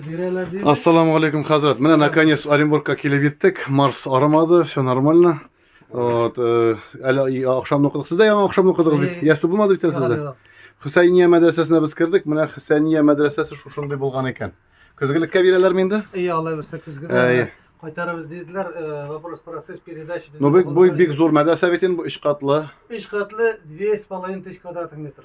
Бирәләр дип. Ассаламу алейкум, хәзрәт. Менә наконец Оренбургка килеп еттек. Марс арымады, все нормально. Вот, э, әле ахшамны укыдык. Сез дә яңа ахшамны укыдыгыз бит. Ястү булмады бит әле сездә. Хөсәйния мәдрәсәсенә без кердек. Менә Хөсәйния мәдрәсәсе шушындый булган икән. Көзгелеккә бирәләрме инде? Ие, алай булса көзгедә. Кайтарабыз диделәр. Э, вопрос процесс передачи без. Ну бик бу бик зур мәдрәсә бит инде, 3 катлы. 3 катлы 2,5 тысяч квадрат метр.